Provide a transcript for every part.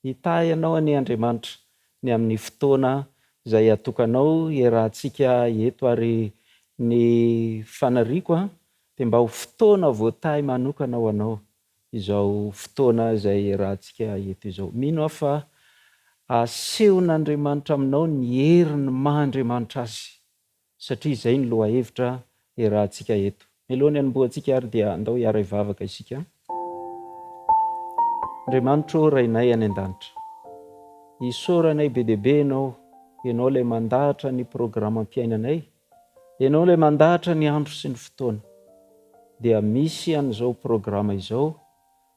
Hitahy anao anie Andriamanitra ny amin'ny fotoana izay hatokanao hiarahantsika eto ary ny faniriako dia mba ho fotoana voatahy manokana ho anao izao fotoana izay hiarahantsika eto izao. Mino aho fa asehon'Andriamanitra aminao ny heriny maha Andriamanitra Azy. satria izay ny lohahevitra iarahantsika eto. Mialoha ny hanombohantsika ary dia andao hiara-hivavaka isika. Andriamanitro ô Rainay any an-danitra, isaoranay be dia be Ianao, Ianao ilay mandahatra ny programam-piainanay, Ianao ilay mandahatra ny andro sy ny fotoana, dia misy an'izao programa izao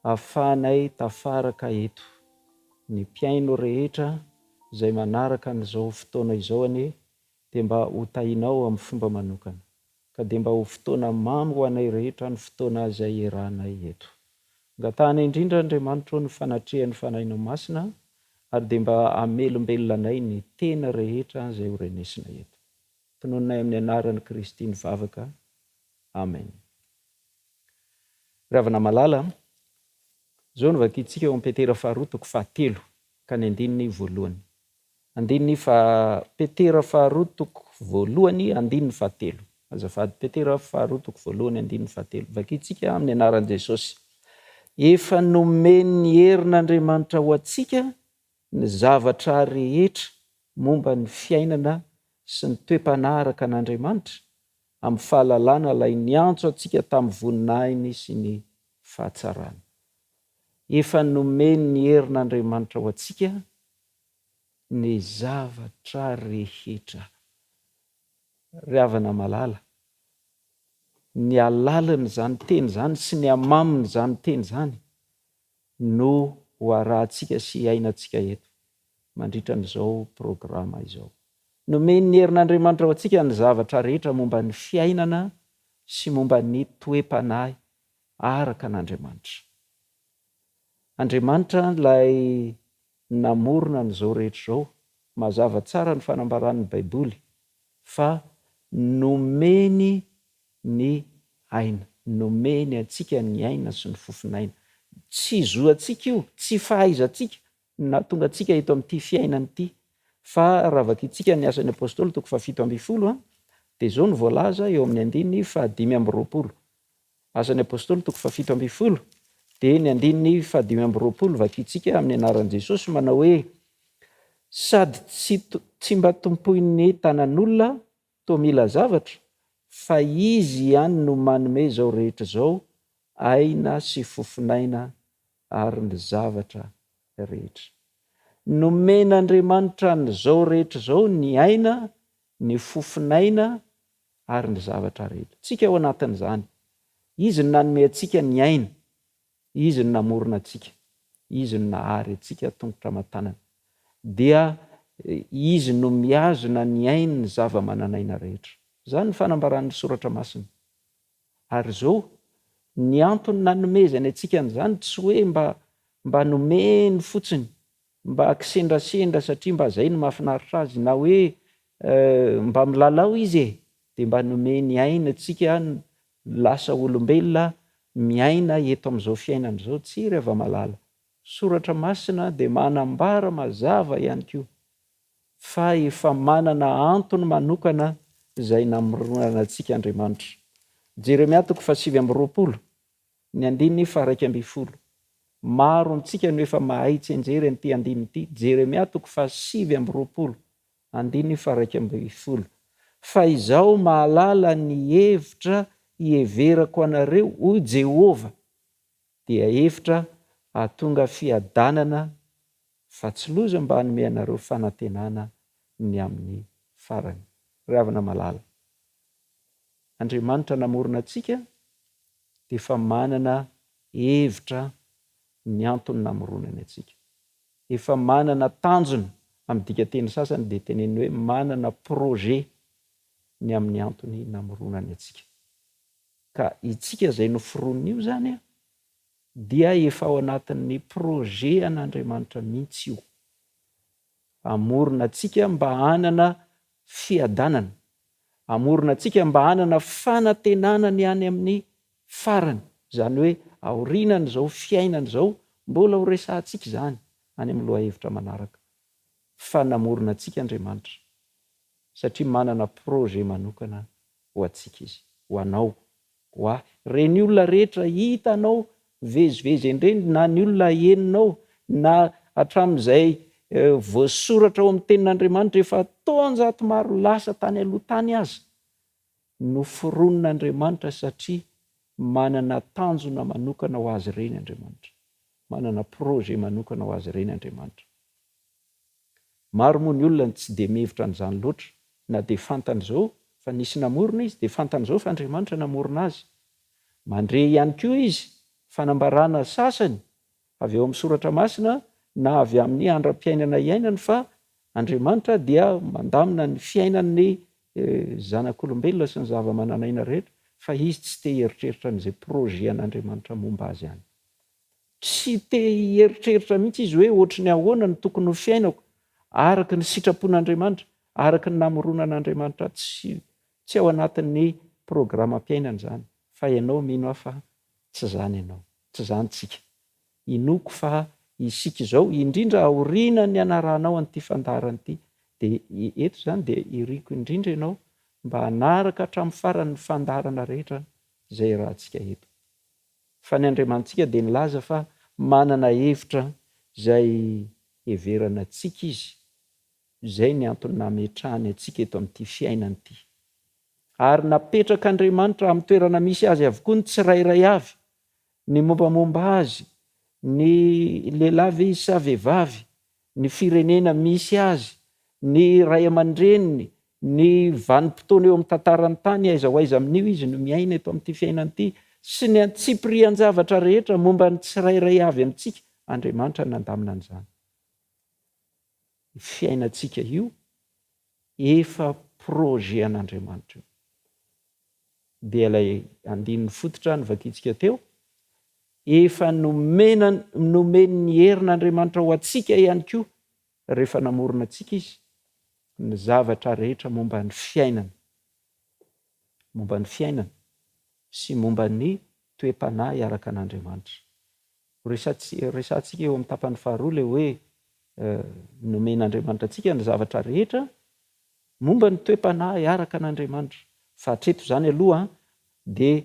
ahafahanay tafaraka eto. Ny mpihaino rehetra izay manaraka an'izao fotoana izao anie dia mba ho tahinao amin'ny fomba manokana, ka dia mba ho fotoana mamy ho anay rehetra ny fotoana izay iarahanay eto. Angatahana indrindra, Andriamanitra ô, ny fanatrehan'ny Fanahinao Masina, ary dia mba hamelombelona anay ny teny rehetra izay ho renesinay eto. Tonononay amin'ny Anaran'i Kristy ny vavaka. Amen. Ry havana malala, izao no vakintsika ao amin'ny Petera faharoa toko fahatelo ka ny andininy voalohany. Andininy faha Petera faharoa toko voalohany andininy fahatelo. Azafady, Petera faharoa toko voalohany andininy fahatelo. Vakintsika amin'ny anaran'i Jesosy. Efa nomen'ny herin'Andriamanitra ho antsika ny zavatra rehetra momba ny fiainana sy ny toe-panahy araka an'Andriamanitra, amin'ny fahalalana Ilay niantso antsika tamin'ny voninahiny sy ny fahatsarany. Efa nomen'ny herin'Andriamanitra ho antsika ny zavatra rehetra. Ry havana malala, ny alalan'izany teny izany sy ny hamamin'izany teny izany no ho arahantsika sy iainantsika eto mandritra an'izao programa izao. Nomen'ny herin'Andriamanitra ho antsika ny zavatra rehetra momba ny fiainana sy momba ny toe-panahy araka an'Andriamanitra. Andriamanitra ilay namorona an'izao rehetra izao. Mazava tsara ny fanambaran'ny Baiboly fa nomeny ny aina. Nomeny antsika ny aina sy ny fofon'aina. Tsy zo antsika io, tsy fahaizantsika no nahatonga antsika eto amin'ity fiainana ity. Fa raha vakintsika ny Asan'ny Apostoly toko fahafito ambin'ny folo a, dia izao no voalaza eo amin'ny andininy fahadimy amby roapolo. Asan'ny Apostoly toko fahafito ambin'ny folo dia ny andininy fahadimy amby roapolo vakintsika amin'ny anaran'i Jesosy manao hoe, Sady tsy tsy mba tompoin'ny tanan'olona toa mila zavatra, fa Izy ihany no manome izao rehetra izao, aina sy fofon'aina ary ny zavatra rehetra. Nomen'Andriamanitra an'izao rehetra izao ny aina, ny fofon'aina ary ny zavatra rehetra. Tsika ao anatin'izany. Izy no nanome antsika ny aina, Izy no namorona antsika, Izy no nahary antsika tongotra aman-tanana. Dia Izy no mihazona ny ain'ny zava-manan'aina rehetra. Izany ny fanambaran'ny Soratra Masina. Ary izao, ny antony nanomezany antsika an'izany tsy hoe mba mba nomeny fotsiny, mba kisendrasendra satria mba izay no mahafinaritra azy, na hoe mba milalao izy e! dia mba nomeny aina antsika lasa olombelona miaina eto amin'izao fiainana izao. Tsia, ry hava-malala, soratra masina dia manambara mazava ihany koa. fa efa manana antony manokana izay namoronana antsika Andriamanitra. Jeremia toko fahasivy amby roapolo, ny andininy faharaika ambin'ny folo. Maro amintsika no efa mahay tsy enjery an'ity andininy ity, Jeremia toko fahasivy amby roapolo, andininy faharaika ambin'ny folo. Fa izaho mahalala ny hevitra hiheverako anareo, hoy Jehovah. Dia hevitra hahatonga fiadanana fa tsy loza mba hanome anareo fanantenana ny amin'ny farany. Ry havana malala, Andriamanitra namorona antsika dia efa manana hevitra ny antony namoronany antsika. Efa manana tanjona, amin'ny dikanteny sasany dia teneniny hoe manana projet ny amin'ny antony namoronany antsika. Ka itsika izay noforonon'io izany dia efa ao anatin'ny projet an'Andriamanitra mihitsy io. Hamorona antsika mba hanana fiadanana. Hamorona antsika mba hanana fanantenana ny any amin'ny farany. Izany hoe aorianan'izao fiainana izao, mbola ho resahantsika izany any amin'ny lohahevitra manaraka. Fa namorona antsika Andriamanitra satria manana projet manokana ho antsika izy, ho anao, ho ahy, reny olona rehetra hitanao mivezivezy endreny na ny olona henonao na hatramin'izay voasoratra ao amin'ny tenin'Andriamanitra efa taonjato maro lasa tany aloha tany aza, noforonin'Andriamanitra satria manana tanjona manokana ho azy ireny Andriamanitra. Manana projet manokana ho azy ireny Andriamanitra. Maro moa ny olona no tsy dia mihevitra an'izany loatra, na dia fantany izao fa nisy namorona izy, dia fantany izao fa Andriamanitra namorona azy. Mandre ihany koa izy fanambarana sasany avy ao amin'ny soratra masina na avy amin'ny andram-piainana iainany fa Andriamanitra dia mandamina ny fiainan'ny zanak'olombelona sy ny zava-manan'aina rehetra fa izy tsy te hieritreritra an'izay projet an'Andriamanitra momba azy any. Tsy te hieritreritra mihitsy izy hoe hoatry ny ahoana no tokony ho fiainako araka ny sitrapon'Andriamanitra, araka ny namoronan'Andriamanitra ahy. Tsy ao anatin'ny programam-piainany izany. Fa ianao mino aho fa tsy izany ianao. Tsy izany isika. Inoako fa isika izao, indrindra aoriana ny hanarahanao an'ity fandaharana ity, dia eto izany dia iriako indrindra ianao mba hanaraka hatramin'ny farany ny fandaharana rehetra izay iarahantsika eto. Fa ny Andriamanitsika dia nilaza fa manana hevitra izay heverana antsika Izy. Izay ny antony nametrahany antsika eto amin'ity fiainana ity. Ary napetrak'Andriamanitra amin'ny toerana misy azy avokoa ny tsirairay avy, ny mombamomba azy, ny lehilahy ve izy sa vehivavy, ny firenena misy azy, ny ray aman-dreniny, ny vanim-potoana eo amin'ny tantaran'ny tany, aiza ho aiza amin'io izy no miaina eto amin'ity fiainana ity, sy ny antsipirihan-javatra rehetra momba ny tsirairay avy amintsika, Andriamanitra nandamina an'izany. Io fiainantsika io Efa projet an'Andriamanitra io. Dia ilay andininy fototra novakintsika teo, efa nomena nomen'ny herin'Andriamanitra ho antsika ihany koa rehefa namorona antsika izy ny zavatra rehetra momba ny fiainana. momba ny fiainana sy momba ny toe-panahy araka an'Andriamanitra. Horesahantsika eo amin'ny tapany faharoa ilay hoe nomen'Andriamanitra antsika ny zavatra rehetra momba ny toe-panahy araka an'Andriamanitra. Fa hatreto izany aloha dia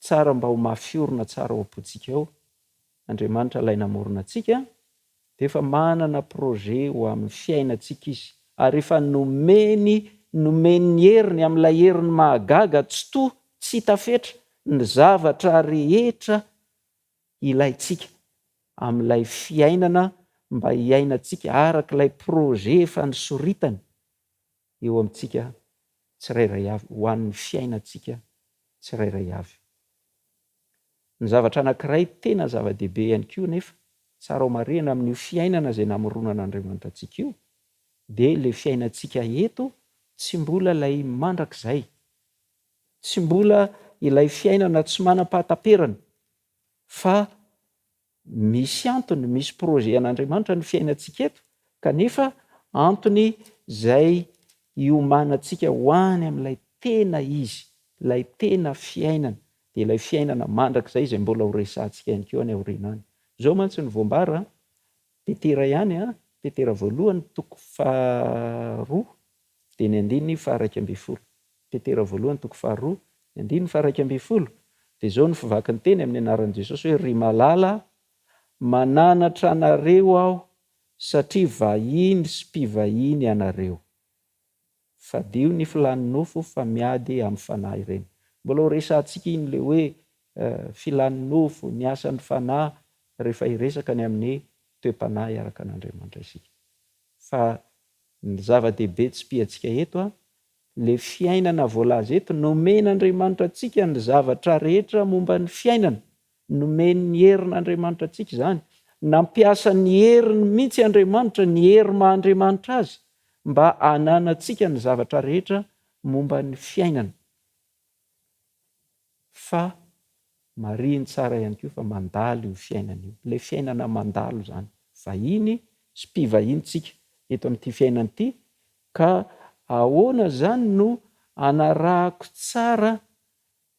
tsara mba ho mafy orina tsara ao am-pontsika ao Andriamanitra ilay namorona antsika dia efa manana projet ho amin'ny fiainantsika izy ary efa nomeny nomeny ny heriny amin'ilay heriny mahagaga tsitoha tsy hita fetra ny zavatra rehetra ilaintsika amin'ilay fiainana mba hiainantsika arak'ilay projet efa nosoritany eo amintsika tsirairay avy, ho an'ny fiainantsika tsirairay avy. Ny zavatra anankiray tena zava-dehibe ihany koa anefa, tsara ho marihina amin'io fiainana izay namoronan'Andriamanitra antsika io, dia ilay fiainantsika eto tsy mbola ilay mandrakizay, tsy mbola ilay fiainana tsy manam-pahataperana, fa Misy antony, misy projet an'Andriamanitra ny fiainantsika eto, kanefa antony izay hiomanantsika ho any amin'ilay tena izy, ilay tena fiainana, dia ilay fiainana mandrakizay izay mbola ho resahantsika ihany koa any aoriana any. Izao mantsy no voambara, Petera ihany, Petera voalohany, toko faharoa, Fiteny andininy faha iraika ambin'ny folo. Petera voalohany toko faharoa, ny andininy faha iraika ambin'ny folo, dia izao no fivakiny teny amin'ny anaran'i Jesosy hoe, Ry malala, mananatra anareo aho satria vahiny sy mpivahiny ianareo. Fadio ny filan'ny nofo fa miady amin'ny fanahy ireny. Mbola ho resahantsika iny ilay hoe filan'ny nofo, ny asan'ny fanahy rehefa hiresaka ny amin'ny toe-panahy araka an'Andriamanitra isika. Fa Ny zava-dehibe tsipihantsika eto, ilay fiainana voalaza eto, nomen'Andriamanitra antsika ny zavatra rehetra momba ny fiainana, nomen'ny herin'Andriamanitra antsika izany, nampiasa ny heriny mihitsy Andriamanitra, ny hery maha Andriamanitra Azy, mba hananantsika ny zavatra rehetra momba ny fiainana. Fa marihiny tsara ihany koa fa mandalo io fiainana io. Ilay fiainana mandalo izany. Vahiny sy mpivahiny tsika eto amin'ity fiainana ity ka ahoana izany no hanarahako tsara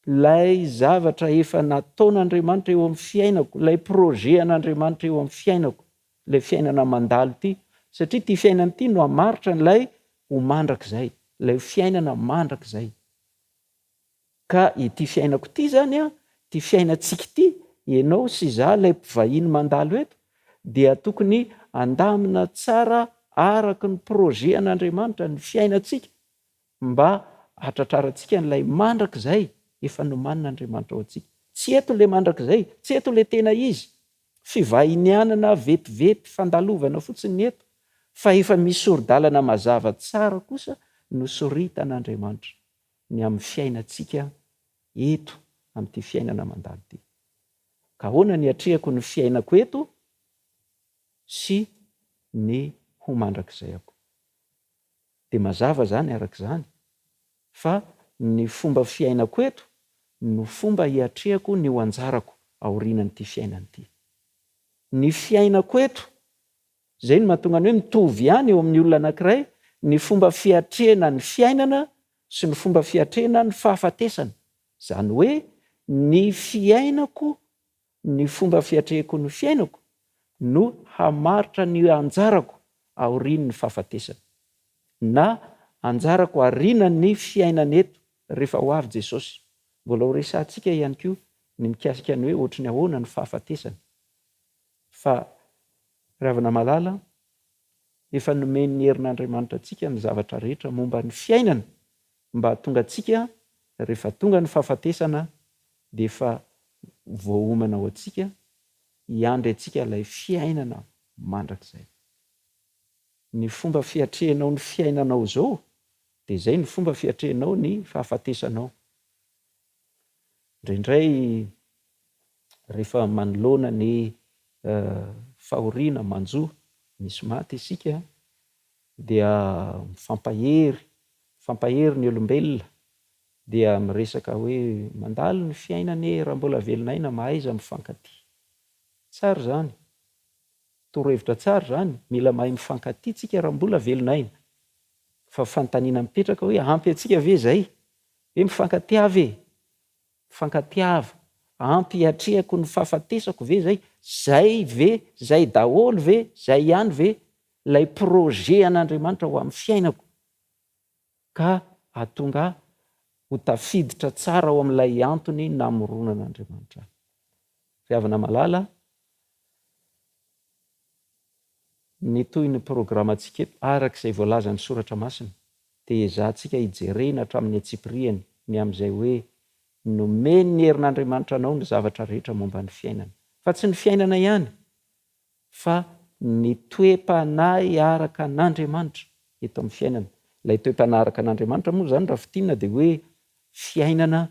ilay zavatra efa nataon'Andriamanitra eo amin'ny fiainako, ilay projet an'Andriamanitra eo amin'ny fiainako, ilay fiainana mandalo ity. Satria ity fiainana ity no hamaritra an'ilay ho mandrakizay, ilay fiainana mandrakizay. Ka ity fiainako ity izany an, ity fiainantsika ity, ianao sy izaho ilay mpivahiny mandalo eto, dia tokony handamina tsara araka ny projet an'Andriamanitra ny fiainantsika mba hahatratrarantsika an'ilay mandrakizay efa nomanin'Andriamanitra ho antsika. Tsy eto ilay mandrakizay, tsy eto ilay tena izy, fivahinianana vetivety, fandalovana fotsiny ny eto, fa efa misy sori-dalana mazava tsara kosa nosoritan'Andriamanitra. ny amin'ny fiainantsika eto amin'ity fiainana mandalo ity. Ka ahoana ny hiatrehako ny fiainako eto sy ny ho mandrakizay ako? Dia mazava izany araka izany fa ny fomba fiainako eto no fomba hiatrehako ny ho anjarako aorianan'ity fiainana ity. Ny fiainako eto Izay no mahatonga ny hoe mitovy ihany eo amin'ny olona anankiray ny fomba fiatrehana ny fiainana sy ny fomba fiatrehana ny fahafatesana. Izany hoe ny fiainako, ny fomba fiatrehiko ny fiainako no hamaritra ny anjarako aorian'ny fahafatesana, na anjarako arinan'ny fiainana eto rehefa ho avy Jesosy. Mbola ho resahantsika ihany koa ny mikasika ny hoe ohatry ny ahoana ny fahafatesana fa. Ravanamalala, Efa nomen'ny herin'Andriamanitra antsika ny zavatra rehetra momba ny fiainana mba hahatonga antsika rehefa tonga ny fahafatesana dia efa voaomana ho antsika hiandry antsika ilay fiainana mandrakizay. Ny fomba fiatrehanao ny fiainanao izao dia izay ny fomba fiatrehanao ny fahafatesanao. Indraindray rehefa manoloana ny fahoriana manjo misy maty isika dia mifampahery, mifampahery ny olombelona dia miresaka hoe mandalo ny fiaina anie raha mbola velona aina mahaiza mifankatia. Tsara izany, torohevitra tsara izany, mila mahay mifankatia tsika raha mbola velona aina. Fa fanontaniana mipetraka hoe ampy antsika ve izay? Hoe mifankatia ve? Mifankatiava. Ampy hiatrehako ny fahafatesako ve izay? Izay ve? Izay daholo ve? Izay ihany ve ilay projet an'Andriamanitra ho amin'ny fiainako? Ka hahatonga ahy ho tafiditra tsara ao amin'ilay antony namoronan'Andriamanitra ahy. Ry havana malala, Mitohy ny programantsika eto araka izay voalazan'ny Soratra Masina, dia ezahantsika hijerena hatramin'ny antsipiriany ny amin'izay hoe nomen'ny herin'Andriamanitra anao ny zavatra rehetra momba ny fiainana. Fa tsy ny fiainana ihany, fa ny toe-panahy araka an'Andriamanitra eto amin'ny fiainana. Ilay toe-panahy araka an'Andriamanitra moa izany raha fintinina dia hoe fiainana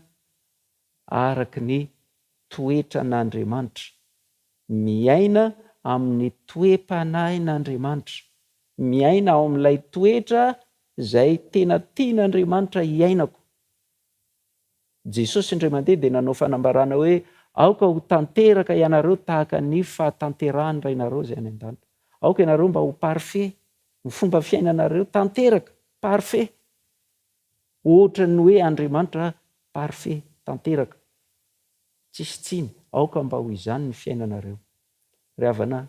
araka ny toetran'Andriamanitra, miaina amin'ny toe-panahin'Andriamanitra, miaina ao amin'ilay toetra izay tena tian'Andriamanitra hiainako. Jesosy indray mandeha dia nanao fanambarana hoe, Aoka ho tanteraka ianareo tahaka ny fahatanterahan'ny Rainareo izay any an-danitra. Aoka ianareo mba ho parfait, ny fomba fiainanareo tanteraka, parfait. Ohatran'ny hoe Andriamanitra parfait tanteraka, tsisy tsiny, aoka mba ho izany ny fiainanareo. Ry havana,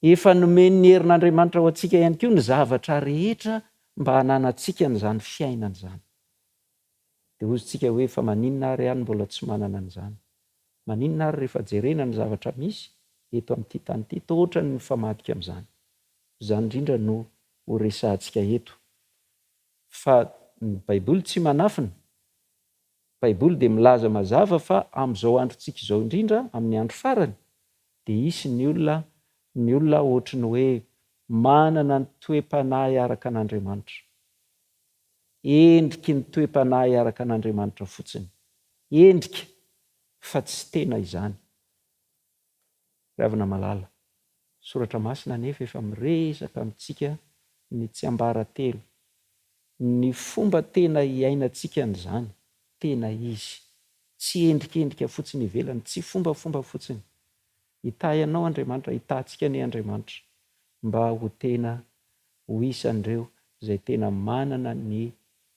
efa nomen'ny herin'Andriamanitra ho antsika ihany koa ny zavatra rehetra mba hananantsika an'izany fiainana izany. Dia hozontsika hoe fa maninona ary aho no mbola tsy manana an'izany? Maninona ary rehefa jerena ny zavatra misy eto amin'ity tany ity toa ohatran'ny mifamadika amin'izany? Izany indrindra no ho resahantsika eto. Fa ny Baiboly tsy manafina. Ny Baiboly dia milaza mazava fa amin'izao androntsika izao indrindra, amin'ny andro farany, dia hisy ny olona, ny olona hoatry ny hoe manana ny toe-panahy araka an'Andriamanitra. Endriky ny toe-panahy araka an'Andriamanitra fotsiny. Endrika, fa tsy tena izany. Ry havana malala, soratra masina anefa efa miresaka amintsika ny tsiambaratelo, ny fomba tena hiainantsika an'izany tena izy, tsy endrikendrika fotsiny ivelany, tsy fombafomba fotsiny. Hitahy anao Andriamanitra, hitahintsika anie Andriamanitra mba ho tena ho isan'ireo izay tena manana ny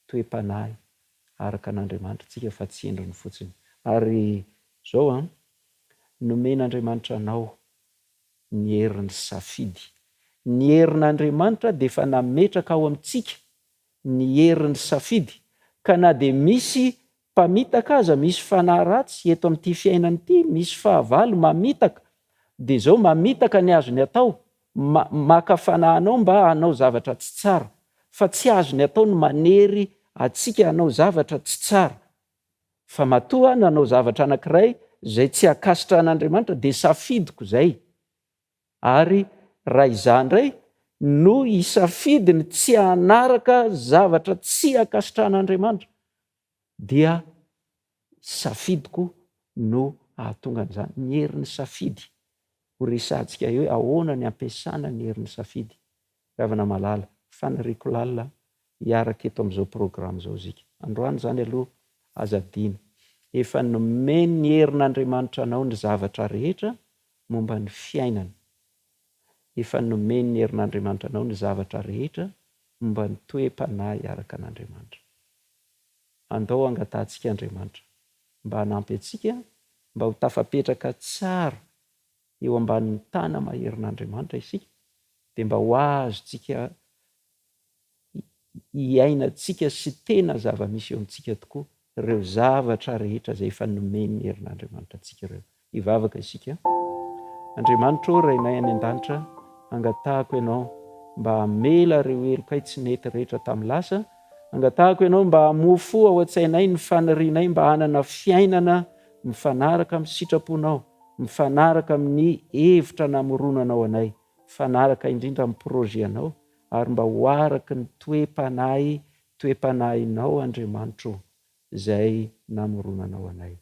toe-panahy araka an'Andriamanitra antsika fa tsy endriny fotsiny. Ary izao an, nomen'Andriamanitra anao ny herin'ny safidy. Ny herin'Andriamanitra dia efa nametraka ao amintsika ny herin'ny safidy, ka na dia misy Mpamitaka aza misy fanahy ratsy eto amin'ity fiainana ity, misy fahavalo mamitaka dia izao mamitaka ny azony atao, maka fanahy anao mba hanao zavatra tsy tsara, fa tsy azony atao ny manery antsika hanao zavatra tsy tsara, fa matoa nanao zavatra anankiray izay tsy ankasitrahan'Andriamanitra dia safidiko izay. Ary raha izaho indray no hisafidy ny tsy hanaraka zavatra tsy ankasitrahan'Andriamanitra, dia safidiko no hahatonga an'izany. Ny herin'ny safidy. Ho resahantsika eo hoe ahoana ny ampiasana ny herin'ny safidy. Ravana Malala, faniriako lalina hiaraka eto amin'izao programme izao isika androany izany aloha aza adino. Efa nomen'ny herin'Andriamanitra anao ny zavatra rehetra momba ny fiainana. Efa nomen'ny herin'Andriamanitra anao ny zavatra rehetra momba ny toe-panahy hiaraka an'Andriamanitra. Andao hangatahantsika Andriamanitra mba hanampy antsika mba ho tafapetraka tsara. eo ambanin'ny tana maherin'Andriamanitra isika dia mba ho azontsika iainantsika sy tena zava-misy eo amintsika tokoa ireo zavatra rehetra izay efa nomen'ny herin'Andriamanitra antsika ireo. Hivavaka isika. Andriamanitra ô, Rainay any an-danitra, angatahako Ianao mba hamela ireo helokay tsy nety rehetra tamin'ny lasa, angatahako Ianao mba hamoa fo ao an-tsainay ny fanirianay mba hanana fiainana mifanaraka amin'ny sitraponao, mifanaraka amin'ny hevitra namoronanao anay, mifanaraka indrindra amin'ny projet-nao, ary mba ho araky ny toe-panahy, toe-panahinao Andriamanitro o, izay namoronanao anay.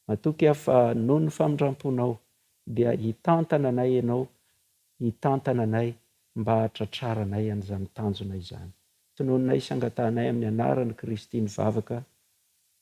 Matoky aho fa noho ny famindramponao dia hitantana anay Ianao, hitantana anay mba hahatratraranay an'izany tanjona izany. Tonononay sy angatahanay amin'ny anaran'i Kristy ny vavaka.